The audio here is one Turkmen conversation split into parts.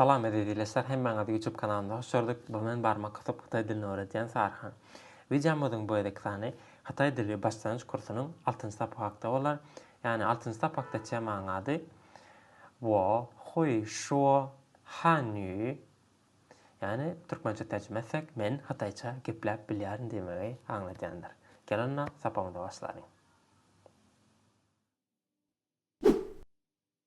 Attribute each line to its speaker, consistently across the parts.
Speaker 1: Salam eziz ildeşler hemmäňizi ýutub kanalymda hoş gördük bu men barmak gysyp hytaý dilini öwredýän Saryhan. Wideomyzyň bu gezekki sany hytaý dili başlanýyç kursunyň altynjy sapak hakda bolar ýagny altynjy sapakda temaň ady Wo hui shuo han yu ýagny türkmençe terjime etsek men hytaýça gepläp bilýärin diýmegi aňladýandyr. Gel onda sapagymyza başlalyň.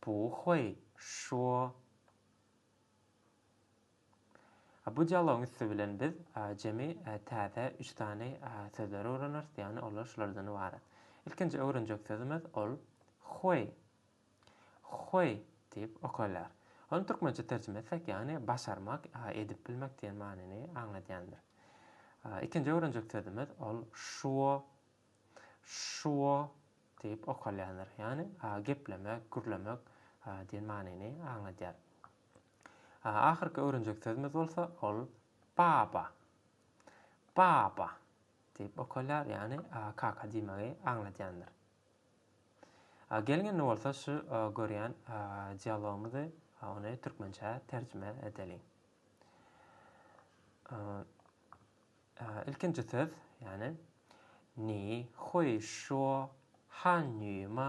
Speaker 1: Puh-weý, şu-o. A bu dialogyň üsti bilen biz jemi täze üç sany sözleri öwreneris, ýagny olar şulardan ybarat. Ilkinji öwrenjek sözümiz, ol Hweý, hweý diýip okalýar. Ony türkmençe terjime etsek, ýagny başarmak, edip bilmek diýen manyny aňladýandyr. Ikinji öwrenjek sözümiz, ol şu-o, Şuo diýip okalýandyr. Ýagny, geplemek, gürlemek diýen manyny aňladýar. Ahyrky öwrenjek sözümiz bolsa, ol baba. Baba diýip okalýar, ýagny, kaka diýmegi aňladýandyr. Geliň indi bolsa şu görýän dialogymyzy ony türkmençä terjime edeliň. Ilkinji söz, ýagny, ni, hui, şo, han, nü, ma.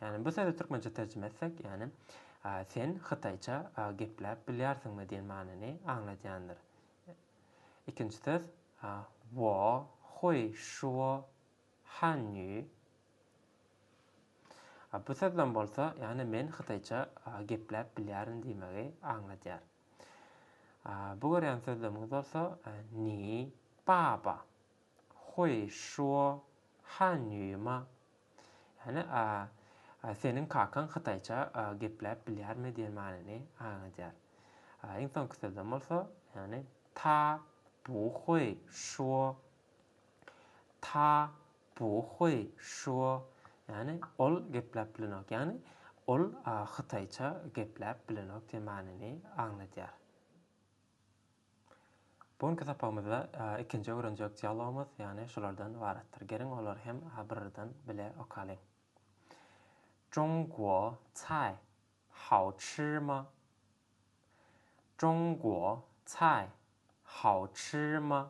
Speaker 1: Ýagny, bu sözi türkmençe terjime etsek, ýagny, Sen hytaýça gepläp bilýärsiňmi? diýen manyny aňladýandyr. Ikinji söz, wo, hui, şuo, han, nü. Bu söz bilen bolsa, ýagny, Men hytaýça gepläp bilýärin diýmegi aňladýar. Bu görýän sözlemiňiz bolsa, Ni, baba, Huý, şuo, Han, nýuma. Ýagny, Seniň kakaň hytaýça gepläp bilýärmi diýen manyny aňladýar. Iň soňky sözlem bolsa, ýagny, Ta, bu, huý, şuo, Ta, Puh-huý, şu-o. Ýagny, ol gepläp bilenok. Ýagny, ol hytaýça gepläp bilenok diýen manyny aňladýar. Bu günki sapagymyzda ikinji öwrenjek dialogymyz, ýagny, şulardan ybaratdyr. Geliň, olary hem birardan bile okalyň. Zhongguo cai hao chi ma? Zhongguo cai hao chi ma?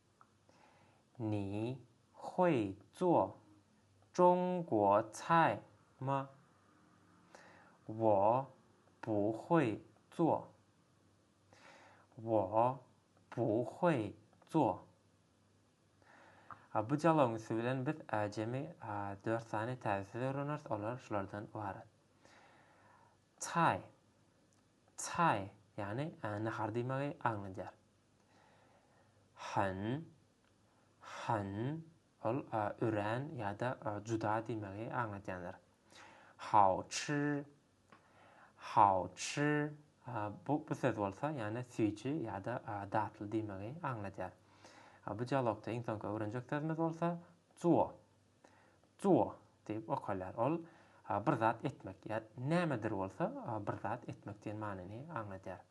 Speaker 1: Ni hui zuo zhongguo cai ma? Wo bu hui zuo. Wo bu hui zuo. Bu jalaň üsti bilen biz jemi dört sany täze söz öwreneris, olar şulardan ybarat. Cai. Cai, ýagny nahar diýmegi aňladýar. Hyn, hyn, ol örän ýa-da juda diýmegi aňladýandyr. Hao çy, hao çy, bu söz bolsa, ýa-da süýji ýa-da datly diýmegi aňladýar. Bu dialogda iň soňky öwrenjek sözümiz bolsa zuo, zuo diýip okalýar. Ol bir zat etmek, ýa nämedir bolsa bir zat etmek diýen manyny aňladýar.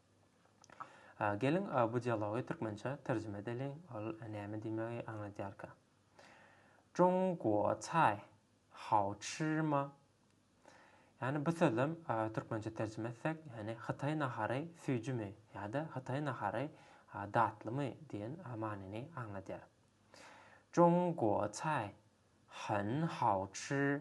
Speaker 1: A geliň bu dialogy türkmençä terjime edeliň, ol näme diýmegi aňladýarka. Zhongguo cai hao chi ma? Ýani bu sözem türkmençä terjime etsek, ýani hytaý nahary süýjümi ýa-da hytaý nahary datlymy diýen manyny aňladýar. Zhongguo cai hen hao chi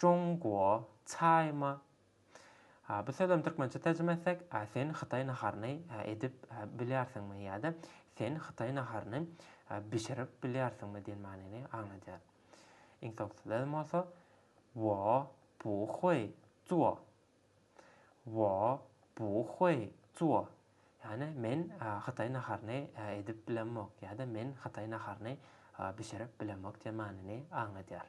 Speaker 1: Jongwo, çaýmy? Hä, bu sözem türkmençe terjime etsek, hä, sen hytaý naharyny, hä, edip, hä, bilýärsiňmi? ýa-da Sen hytaý naharyny, hä, bişirip bilýärsiňmi? diýen manyny aňladýar. Iň soňky sözem bolsa, Wo bu huý zuo. Wo bu huý zuo. Ýagny, men, hä, hytaý naharyny, hä, edip bilemok, ýa-da Men hytaý naharyny, hä, bişirip bilemok diýen manyny aňladýar.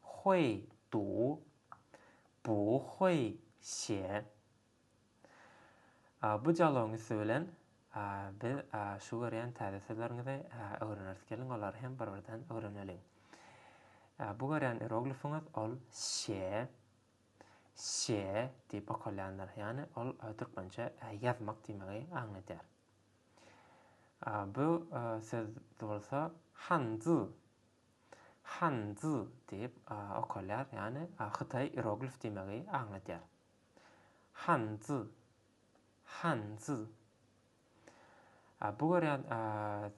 Speaker 1: 会读不会写 Bu dialogyň üsti bilen biz şu görýän täze sözleriňizi öwreneris. Geliň, olary hem bir-birden öwreneliň. Bu görýän ieroglifiňiz ol şe, şe diýip okalýandyr. Ýagny ol türkmençe ýazmak diýmegi aňladýar. Bu söz bolsa hanzy Han Zi diýip okalýar, ýagny Hytaý ieroglif diýmegi aňladýar. Han Zi, Han Zi. Bu görýän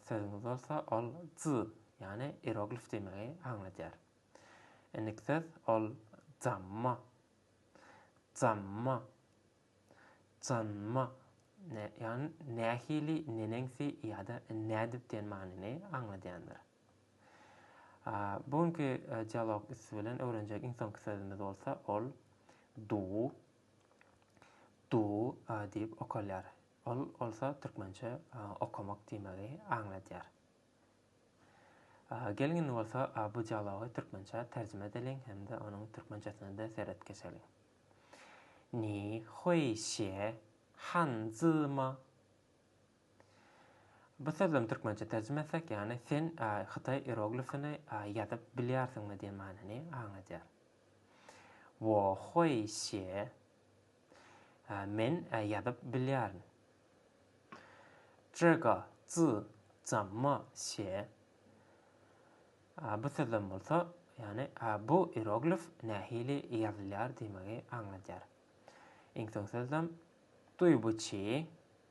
Speaker 1: sözüňiz bolsa ol Zi, ýagny ieroglif diýmegi aňladýar. Indiki söz ol Zamma. Zamma. Zanma. Ýagny nähili, neneňsi ýa-da nädip diýen manyny aňladýandyr. Bu günki dialog üsti bilen öwrenjek iň soňky sözümiz bolsa ol du, du diýip okalýar. Ol bolsa türkmençe okamak diýmegi aňladýar. Geliň indi bolsa bu dialogy türkmençä terjime edeliň hem-de onuň türkmençesine-de seret geçeliň. Ni huýşýe han zi ma? Bu sözlem türkmençe terjime etsek ýany sen hytaý ieroglifini ýazyp bilýärsiňmi diýen manyny aňladýar. Wo hui xie men ýazyp bilýärin. Zhe ge zi zamma xie bu sözlem bolsa ýany bu ieroglif nähili ýazylýar diýmegi aňladýar. Iň soň sözlem dui bu chi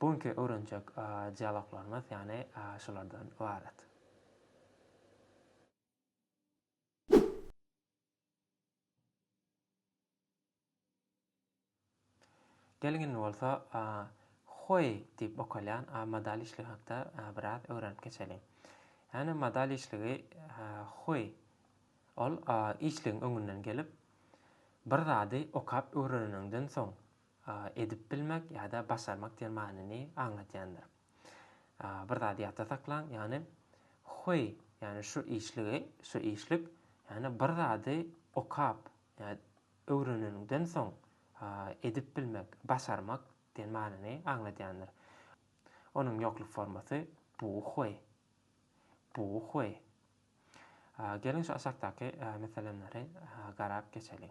Speaker 1: Bu günki öwrenjek dialoglarymyz ýany şulardan ybarat. Geliň indi bolsa Hoý diýip okalýan modal işligi hakda biraz öwrenip geçeliň. Ýani modal işligi Hoý ol işligiň öňünden gelip bir zady okap öwreneniňden soň edip bilmek ýa-da başarmak diýen manyny aňladýandyr. Bir zady ýatda saklaň, ýagny Huý, ýagny şu işligi, şu işlik, ýagny bir zady okap, ýa-da öwreneniňden soň edip bilmek, başarmak diýen manyny aňladýandyr. Onuň ýokluk formasy Bu huý. Bu huý. Geliň şu aşakdaky meselemleri garap geçeliň.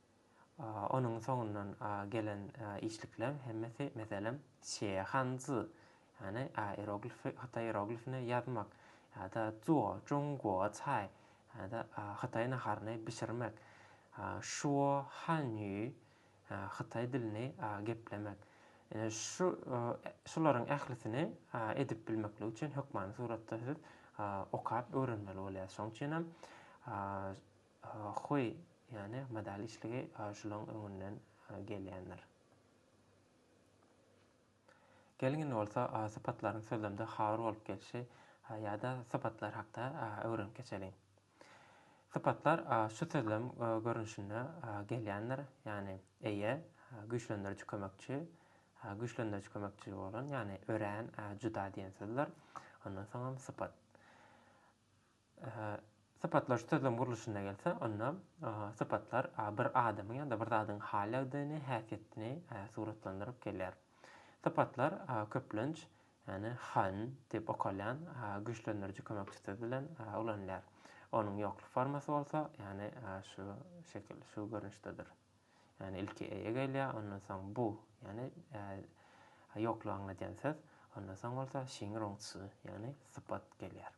Speaker 1: Onuň soňundan gelen işlikleriň hemmesi, meselem, Şe Han Zi, ýagny ieroglifi, hytaý ieroglifini ýazmak, ýa-da Zuo Zhong Guo Cai, ýa-da hytaý naharyny bişirmek, Shuo Han Yu, hytaý dilini geplemek, ine, şu, şularyň ählisini edip bilmeklik üçin hökmany suratda siz okap öwrenmeli bolýarsyňyz. Şonuň üçin hem, Hoý, ýane modal işligi şulaň öňünden gelýändir. Geliň indi bolsa sypatlaryň sözlemde habar bolup gelşi ýa-da sypatlar hakda öwrenip geçeliň. Sypatlar şu sözlem görnüşinde gelýändir, ýane eýe, güýçlendiriji kömekçi, güýçlendiriji kömekçi bolan, ýane örän, juda diýen sözler, ondan soňam sypat. Sypatlaýjy sözlem gurluşyna gelsek, onda sypatlar bir adamyň ýa-da bir zadyň hal-ýagdaýyny, häsiýetini suratlandyryp gelýär. Sypatlar köplenç, ýagny han diýip okalýan güýçlendiriji kömekçi söz bilen ulanylýar. Onuň ýokluk formasy bolsa, ýagny şu şekil, şu görnüşdedir. Ýagny ilki eýe gelýär, ondan soň bu, ýagny ýoklugy aňladýan söz, ondan soň bolsa şiň-roň-çy, ýagny sypat gelýär.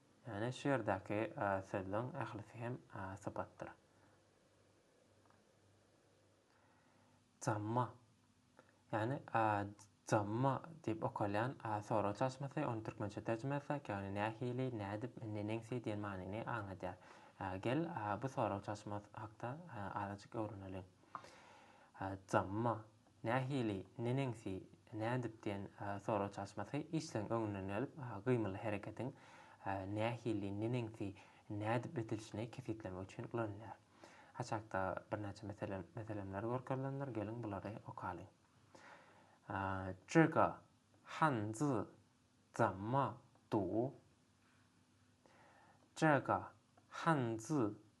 Speaker 1: Ýagny şu ýerdäki sözleň ählisi hem sypatdyr. Jamma, ýagny jamma diýip okalýan sorag çalşmasy, ony türkmençe terjime etseň, ýagny nähili, nädip, neneňsi diýen manyny aňladýar. Gel, bu sorag çalşmasy hakda azajyk öwreneliň. Jamma, Nähili, neneňsi, nädip diýen sorag çalyşmasy işleň öňünden gelip, gymyly hereketiň nähili, neneňsi, nädip edilişini kesgitlemek üçin ulanylýar. Aşakda birnäçe meselemler görkezilendir, geliň bulary okalyň. Zhiga, han zi, zamma, du? Zhiga, han zi,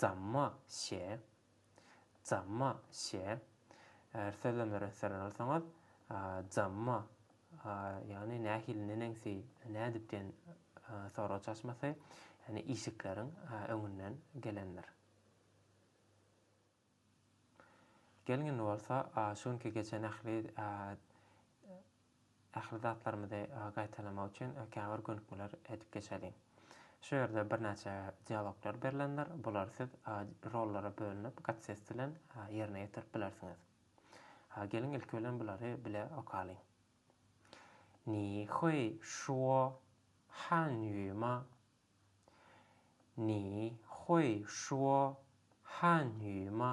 Speaker 1: Jamma şe. Jamma şe. Eger sözlemleri ösdürýän bolsaňyz, jamma, ýagny nähili, neneňsi, nädip diýen sorag çaşmasy, ýagny işikleriň öňünden gelendir. Gelin bolsa şu günki geçen ähli Ähli zatlarymyzy gaýtalamak üçin käbir gönükmeler edip geçeliň. Şu ýerde birnäçe dialoglar berlendir. Bulary siz rollara bölünip gatsest bilen ýerine ýetirip bilersiňiz. Geliň ilki bilen bulary bile okalyň. Ni hui şuo han ýu ma? Ni hui şuo han ýu ma?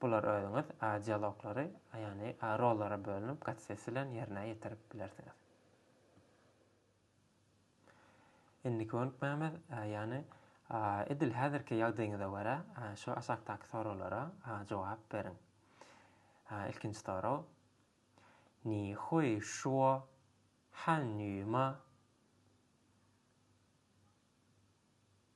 Speaker 1: Bular özüňiz a dialoglary, ýagny a rollara bölünip gatsesi bilen ýerine ýetirip bilersiňiz. Indi könükmämiz, ýagny a edil häzirki ýagdaýyňyza görä şu aşakdaky soraglara a jogap beriň. A ilkinji sorag, Ni hui shuo han yu ma?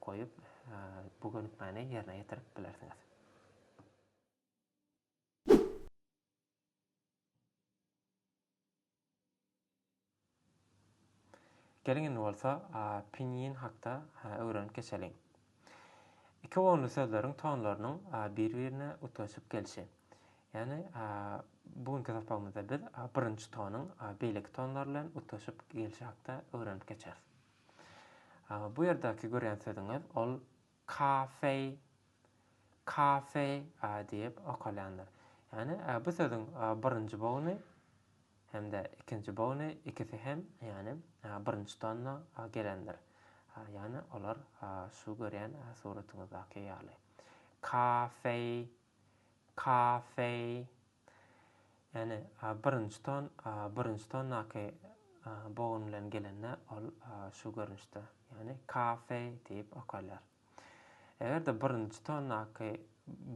Speaker 1: goýup, bu gönükmäni ýerine ýetirip bilersiňiz. Geliň indi bolsa pinyin hakda öwrenip geçeliň. Iki gonly sözleriň tonlarynyň bir-birine utgaşyp gelşi. Ýagny bu günki sapagymyzda biz birinji tonyň beýleki tonlar bilen utgaşyp gelşi hakda öwrenip geçeris. Bu ýerdäki görýän sözüňiz ol kafeý, kafe diýip okalýandyr. Ýagny bu sözüň birinji bogny hem-de ikinji bogny ikisi hem ýagny birinji tonna gelendir. Ýagny olar şu görýän suratyňyzdaky ýaly. Kafeý. Kafe, ýagny birinji ton, birinji tondaky bogun bilen gelende ol şu görnüşde, ýagny kafe diýip okalýar. Eger-de birinji tondaky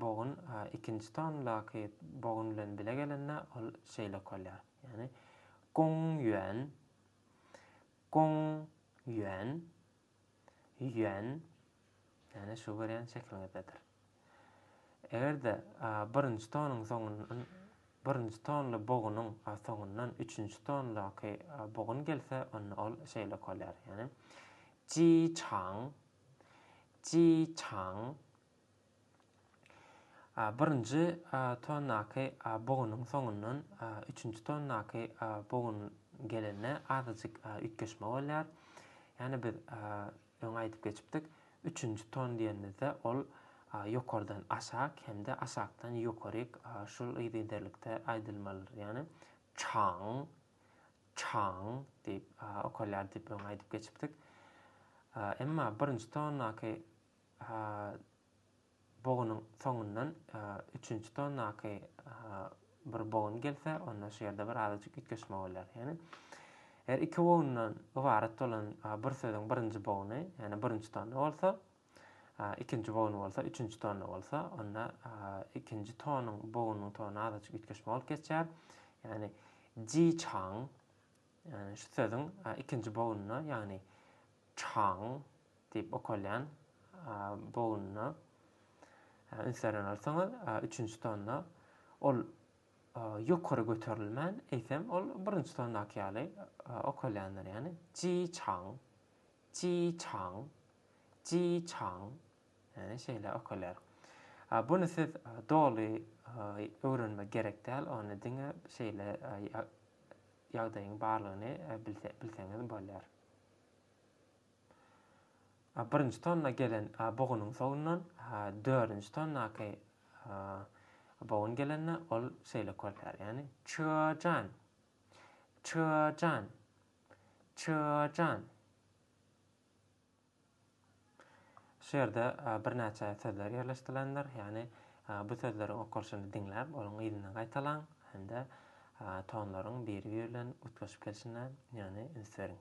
Speaker 1: bogun ikinji tondaky bogun bilen bile gelende ol şeýle okalýar, ýagny gong ýuan, gong ýuan, ýuan, ýagny şu görýän şekiliňizdedir. Eger-de birinji tonuň soňundan birinji tonly bogunyň soňundan üçünji tondaky bogun gelse, onda ol şeýle okalýar, ýagny, ji çaň, ji çaň. Birinji tondaky bogunyň soňundan üçünji tondaky bogun gelende azajyk üýtgeşme bolýar. Ýagny biz Öň aýdyp geçipdik, üçünji ton diýenimizde ol ýokardan aşak hem-de aşakdan ýokaryk şul yzygiderlikde aýdylmalydyr. Ýagny çaň, çaň diýip okalýar diýip öň aýdyp geçipdik. Emma birinji tondaky Bogunyň soňundan üçünji tonnaky bir bogun gelse, onda şu ýerde bir azajyk üýtgeşme bolýar. Ýagny, eger iki bogundan ybarat bolan bir sözüň birinji boguny, ýagny birinji tonna bolsa, ikinji boguny bolsa, üçünji tonna bolsa, onda ikinji tonuň bogunyň tony azajyk üýtgeşme bolup geçýär. Ýagny, ji çaň, ýagny şu sözüň ikinji bogununa, ýagny çaň, Diýip okalýan bogununa üns beren bolsaňyz, üçünji tonda ol ýokary göterilmän, eýsem, ol birinji tondaky ýaly okalýandyr, ýagny, ji çaň, ji çaň, ji çaň, ýagny şeýle okalýar. Buny siz doly öwrenmek gerek däl, ony diňe şeýle ýagdaýyň barlygyny bilseňiz bolýar. Birinji tonna gelen bugunyň sowundan dördünji tonnaky bugun gelende ol şeýle körpär, ýagny, Çyjan! Çyjan! Çyjan! Şu ýerde birnäçe sözler ýerleşdirilendir, ýagny bu sözleriň okalyşyny diňläp, onuň yzyndan gaýtalaň hem-de tonlaryň biri-biri bilen utgaşyp gelşine, ýagny, üns beriň.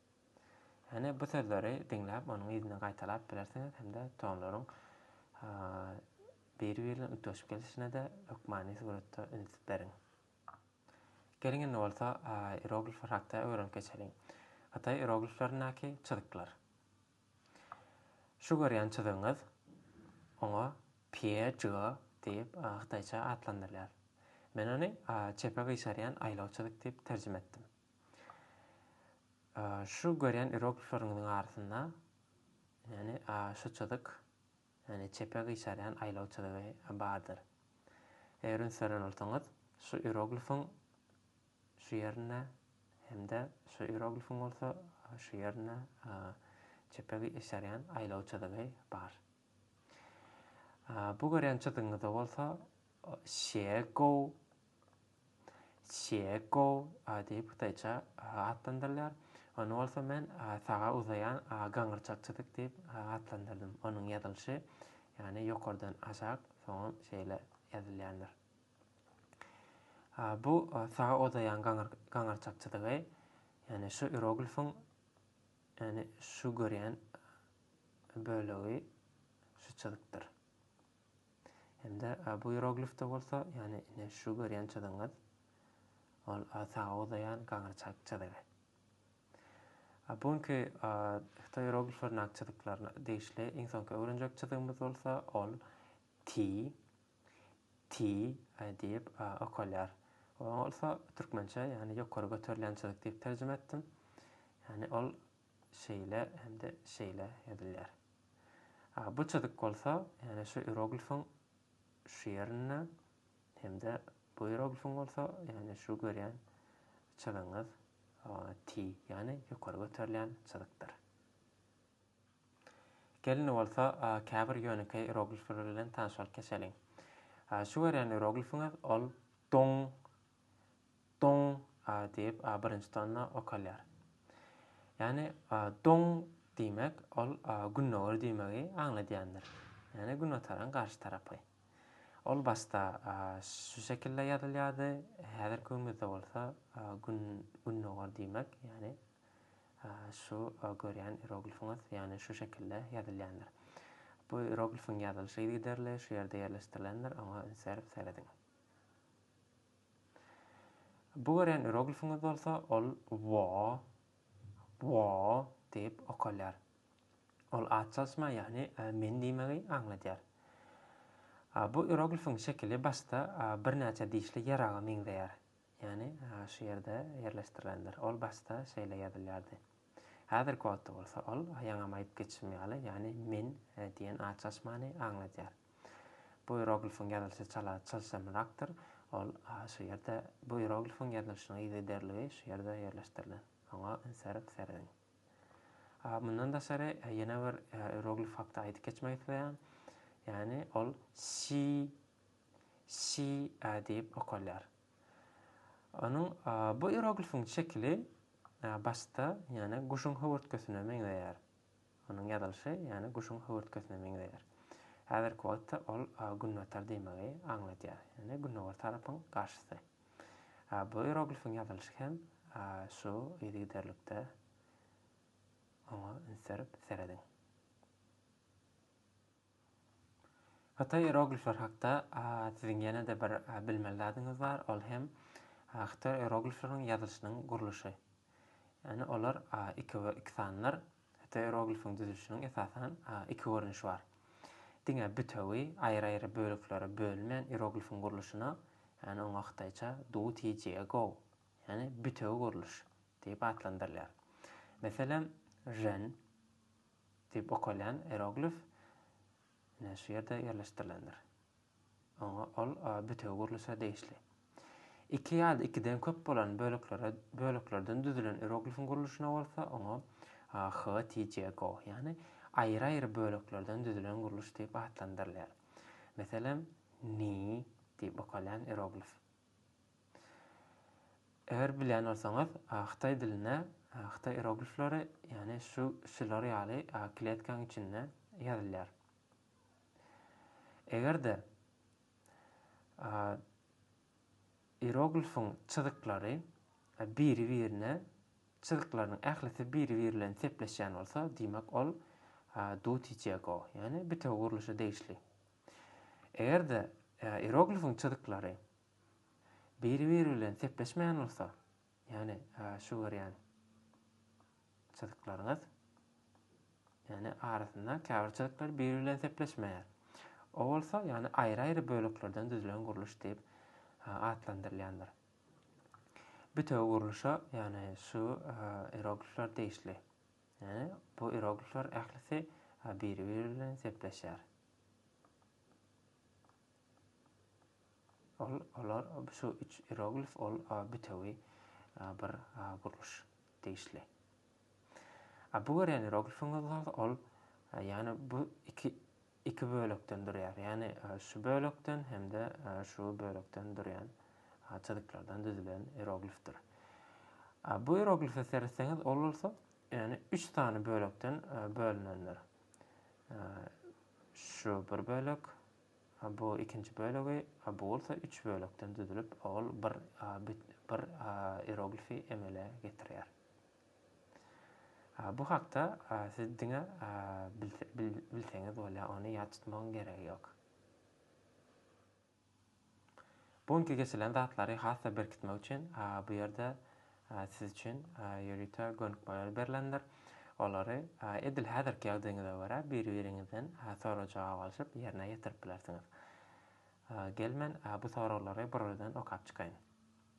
Speaker 1: Hany bu sözleri diňläp onuň yzyna gaýtalap bilersiňiz hem-de tonlaryň biri biri bilen utgaşyp gelişine-de hökmany suratda üns beriň. Geliň indi bolsa iroglifler hakda öwrenip geçeliň. Hytaý irogliflerindäki çyzyklar. Şu görýän çyzygyňyz oňa Pie Jige diýip hytaýça atlandyrylýar. Men ony çepe gyşarýan aýlaw çyzyk diýip terjime etdim. Şu görýän irogliplaryňyzyň arasynda, ýagny, şu çyzyk, ýagny, çepe gyşarýan aýlaw çyzygy bardyr. Eger üns beren bolsaňyz, şu iroglifiň şu ýerinde hem-de şu iroglifiň bolsa şu ýerinde çepe gyşarýan aýlaw çyzygy bar. Bu görýän çyzygyňyzda bolsa Şýegow Çýeko diýip hytaýça atlandyrylýar. Ony bolsa men saga uzaýan gaňyrçakçydyk diýip atlandyrdym. Onuň ýazylyşy, ýagny ýokardan aşak, soňam şeýle ýazylýandyr. Bu saga uzaýan gaňyrçakçydygy, ýagny şu ieroglifiň, ýagny şu görýän bölegi şu çyzykdyr. Hem-de bu ieroglifde bolsa, ýagny ine şu görýän çyzygyňyz, ol saga uzaýan gaňyrçak çyzygy. Bu günki hytaý ierogliflerindäki çyzyklaryna degişli iň soňky öwrenjek çyzygymyz bolsa, ol ti, ti diýip okalýar. Oňa bolsa türkmençe, ýagny ýokary göterilýän çyzyk diýip terjime etdim. Ýagny ol şeýle hem-de şeýle ýazylýar. A bu çyzyk bolsa, ýagny şu ieroglifiň şu ýerinde hem-de bu ieroglifiň bolsa, ýagny şu görýän çyzygyňyz T, ýagny ýokary göterilýän çyzykdyr. Gelin bolsa, käbir ýönekeý ieroglifler bilen tanyşyp geçeliň. Şu görýän ieroglifiňiz ol Dong Doň a diýip a birinji tonna okalýar. Ýagny doň diýmek ol gündogar diýmegi aňladýandyr. Ýagny günotaryň garşy tarapy. Ol başda şu şekilde ýazylýardy, häzirki günümizde bolsa gün gündogar diýmek, ýagny şu görýän ieroglifiňiz, ýagny şu şekilde ýazylýandyr. Bu ieroglifiň ýazylyşy yzygiderli şu ýerde ýerleşdirilendir, oňa üns berip serediň. Bu görýän ieroglifiňiz bolsa ol Wo, Wo, diýip okalýar. Ol at çalyşma, ýagny men diýmegi aňladýar. Bu ieroglifiň şekili başda birnäçe dişli ýaraga meňzeýär. Ýagny şu ýerde ýerleşdirilendir. Ol başda şeýle ýazylýardy. Häzirki wagtda bolsa ol ýaňam aýdyp geçişim ýaly, ýagny men diýen at çalyşmany aňladýar. Bu ieroglifiň ýazylyşy çala çylşyrymrakdyr, ol şu ýerde bu ieroglifiň ýazylyşynyň yzygiderligi şu ýerde ýerleşdirilen. Oňa ünserip serediň. Mundan daşary ýene bir ieroglif hakda aýdyp geçmek isleýän, ýagny ol si, si diýip okalýar. Onuň bu ieroglifiň şekili başda ýene guşuň höwürtgesine meňzeýär. Onuň ýazylyşy ýany guşuň höwürtgesine meňzeýär. Häzirki wagtda ol günbatar diýmegi aňladýar, ýani gündogar tarapyň garşysy. Bu ieroglifiň ýazylyşy hem şu yzygiderlikde oňa üns berip serediň. Hytaý ieroglifleri hakda siziň ýene-de bir bilmeli zadyňyz bar, ol hem hytaý ieroglifleriniň ýazylyşynyň gurluşy. Ýagny olar iki we iki sanlar. Hytaý ieroglifiniň düzülişiniň esasan iki görnüşi bar. Diňe bütewi, aýry-aýry böleklere bölünmän ieroglifiň gurluşyna, ýagny oňa hytaýça du ti jie gou, ýagny bütewi gurluş, diýip atlandyrylýar. Meselem, Ren, Diýip okalýan ieroglif ine şu ýerde ýerleşdirilendir. Oňa ol bütewi gurluşa degişli. Iki ýa-da ikiden köp bolan böleklere böleklerden düzülen ieroglifiň gurluşyna bolsa oňa httgo, ýagny aýry-aýry böleklerden düzülen gurluş diýip atlandyrylýar. Meselem, ni diýip okalýan ieroglif. Eger bilýän bolsaňyz, hytaý dilinde hytaý ieroglifleri, ýagny şu şular ýaly kletkaň içinde ýazylýar. Eger-de ieroglifiň çyzyklary biri-birine, çyzyklarynyň ählisi biri-biri bilen sepleşýän bolsa, diýmek ol Dutijego, ýagny bitewi gurluşa degişli. Eger-de ieroglifiň çyzyklary biri-biri bilen sepleşmeýän bolsa, ýagny şu görýän çyzyklaryňyz, ýagny arasynda käbir çyzyklar biri bilen sepleşmeýär. O bolsa, ýagny aýry-aýry böleklerden düzülen gurluş diýip atlandyrylýandyr. Bitewi gurluşa, ýagny şu ieroglifler degişli. Ýöne bu ieroglifler ählisi biri-biri bilen sepleşýär. Ol, olar, şu üç ieroglif ol bütewi bir gurluş degişli. A bu görýän ieroglifiňiz bolsa ol, ýagny bu iki iki bölekden durýar, ýagny şu bölekden hem-de şu bölekden durýan çyzyklardan düzülen ieroglifdir. Bu ieroglife seretseňiz, ol bolsa, ýagny üç sany bölekden bölünendir. Şu bir bölek, bu ikinji bölegi, bu bolsa üç bölekden düzülip, ol bir bir ieroglifi emele getirýär. Bu hakda siz diňe bilseňiz bolýar, ony ýat tutmagyň geregi ýok. Bu günki geçilen zatlary has-da berkitmek üçin bu ýerde siz üçin ýörite gönükmeler berlendir. Olary edil häzirki ýagdaýyňyza görä bir-biriňizden sorag-jogap alşyp ýerine ýetirip bilersiňiz. Gel men bu soraglary buradan okap çykaýyn.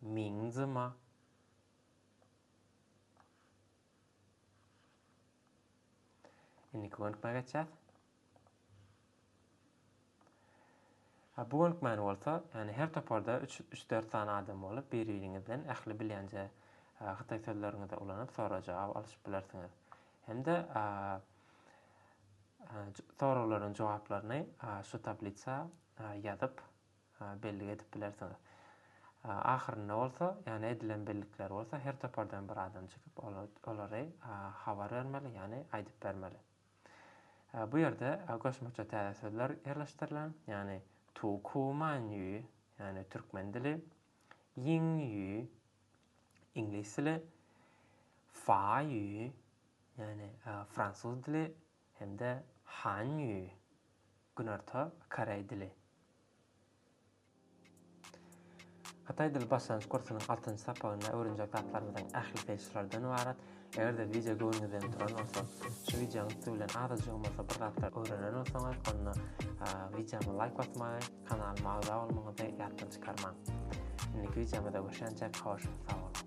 Speaker 1: Minzyma, Indiki gönükmä geçýäs. Ha, bu gönükmäni bolsa, ýagny her toparda üç, üç-dört sany adam bolup, bir-biriňizden ähli bilýänje hytaý sözleriňizi ulanyp, sorag-jogap alyşyp bilersiňiz. Hem-de soraglaryň jogaplaryny şu tablisa ýazyp, bellik edip bilersiňiz. Ahyrynda bolsa, ýagny edilen bellikler bolsa her topardan bir adam çykyp olary habar bermeli, ýagny aýdyp bermeli. Bu ýerde goşmaça täze sözler ýerleşdirilen, ýagny tu ku man ýü, ýagny türkmen dili, ýing ýü, iňlis dili, fa ýü, ýagny fransuz dili, hem-de hanýu, günorta koreý dili. Hytaý dili başlangyç kursunyň altynjy sapagynda öwrenjek zatlarymyzyň ählisi şulardan ybarat. Eger-de wideo göwnüňizden turan bolsa, şu wideonyň üsti bilen azajygam bolsa bir zatlar öwrenen bolsaňyz, onda wideoma laýk basmagy, kanalyma agza bolmagyňyzy ýatdan çykarmaň. Indiki wideomyzda görşänçäk, hoş, sag boluň!